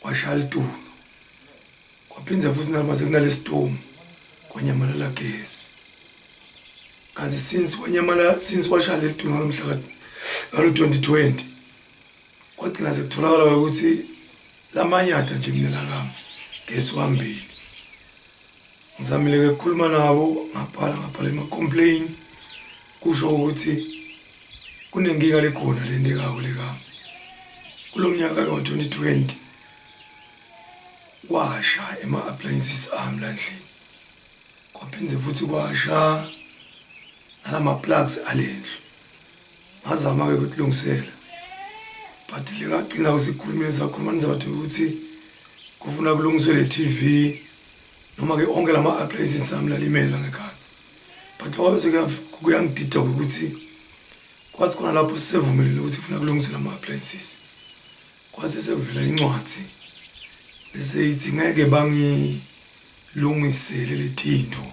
kwashaya litunu kwaphindze futhi nalo mase kunalesitomu kwanyamalala gesi kanti since wanyamala since washaya leli tunga lomhla ngalo 2020 kwagcina sekutholakala ukuthi lamanyatha nje mina lakami gesi wambili ngizamile-ke kukhuluma nabo ngabhala ngabhala ema-complain kusho ukuthi kunenkinga lekhona le nto ekako lekami kulo mnyaka ke wa-2020 kwasha ema-appliances ami landlini kwaphinde futhi kwasha nalama-plugs alendlu ngazama-ke ukutilungisela but le ngagcina usikhulumile sakhuluma nizawuthi ukuthi kufuna kulungiswe le TV noma-ke onke la ma-appliances sami lalimela ngekhathi but lokho bese kuyangidida ukuthi kwathi khona lapho sisevumelile ukuthi kufuna kulungiswe la ma-appliances kwase sekuvela incwadi bese yithi ngeke bangilungisele le thinto